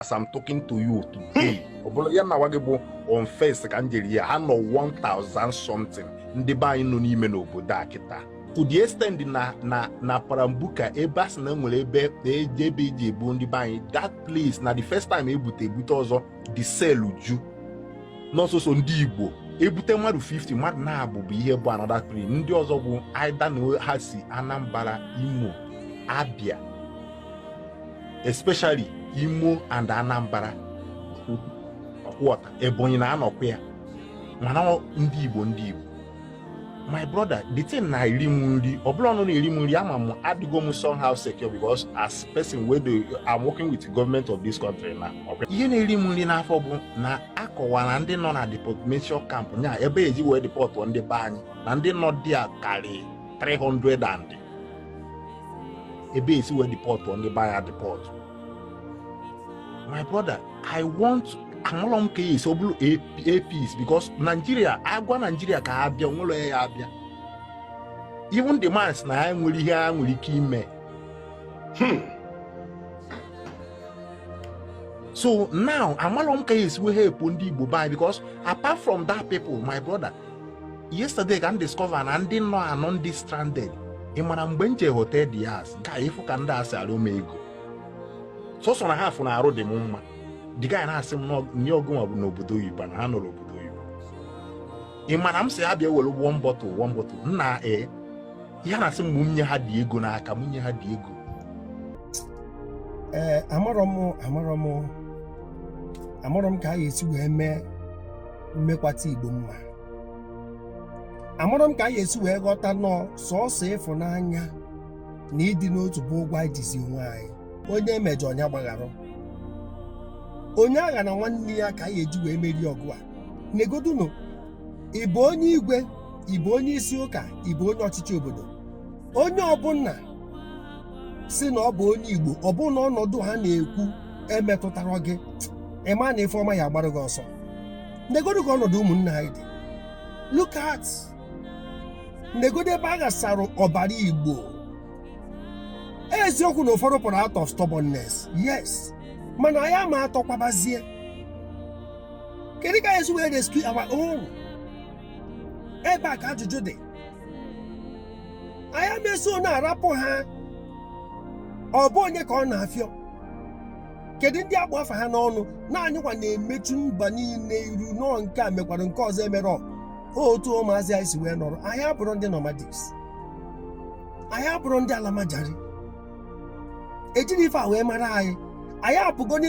as I'm talking to you today hmm. ọ bụrụ ya na nwa gị bụ on first ka m jere ya ha nọ 1000 something ndị be anyị nọ n'ime n'obodo a kịta to the extent na na na parambuka ebe a sị na nwere ebe eji ebe eji ebu ndị be anyị that place na the first time ebute ebute ọzọ the cell ju nọọ sọsọ ndị igbo ebute mmadụ 50 mmadụ naabọ bụ ihe bụ another tribe ndị ọzọ bụ either na ha si anambra imo abia especially Imo and Anambra ọkwọta Ebonyi na anọkwa ya mana ndị Igbo ndị Igbo my brother the thing na-eri m nri ọ bụla ọnụ na-eri m nri ama m adịgo m somehow secure because as person wey dey I'm working with the government of this country na ihe na-eri m nri n'afọ bụ na akọwara ndị nọ na deportation camp nya ebe eji wee deport ndị be anyị na ndị nọ there karị 300 and ebe esi wee deport ndị be anyị deport my brother i want amalọ m ka esi ọ bụrụ apis because naijiria agwa naijiria ka ha bịa onwerọ ya abịa even the man na ha nwere ihe ha nwere ike ime hmm. so now amalọ m ka esi wee help ndị igbo by because apart from that people my brother yesterday ka m discover na ndị nọ anọ ndị stranded ị mara mgbe m je hotel there a sị ka ị fụ ka ndị a si arịọ m ego sọsọ na ha afụ na arụ dị m mma the guy na-asị m nye ọ gụnwa bụ n'obodo oyibo na ha nọrọ obodo oyibo ị mara m sị ha bịa were one bottle one bottle nna ee ihe na-asị m nye ha dị ego n'aka m nye ha dị ego ee amarọ m amarọ m amarọ m ka a ga-esi wee mee mmekwata igbo mma amarọ m ka anyị esi wee ghọta nọọ sọọsọ ịfụnanya na ịdị n'otu bụ ụgwọ anyị jizi onwe anyị onye emejọ onye gbaghara onye aghana nwanne ya ka anyị eji wee merie ọgụ a negodunu ị bụ onye igwe ị bụ onye isi ụka ị bụ onye ọchịchị obodo onye ọbụla sị na ọ bụ onye igbo ọ bụ na ọnọdụ ha na-ekwu emetụtarọ gị ịma na ife ọma ya agbara gị ọsọ negodu ka ọnọdụ ụmụnne anyị dị look at negodu ebe a ghasara ọbara igbo eziokwu na ụfọdụ pụrụ out of stubbornness yes mana anyị ama atọkwabazie kedu ka esi wee rescue our own ebe a ka ajụjụ dị anyị ama eso na-arapụ ha ọ bụ onye ka ọ na-afịọ kedu ndị agba afa ha n'ọnụ na anyịkwa na-emechu mba niile iru nọọ nke a mekwara nke ọzọ emerọ otu ụmụazị anyị si wee nọrọ anyị abụrụ ndị nomadics anyị abụrụ ndị alamajari ejiri ife a wee mara anyị anyị apụgo n'ime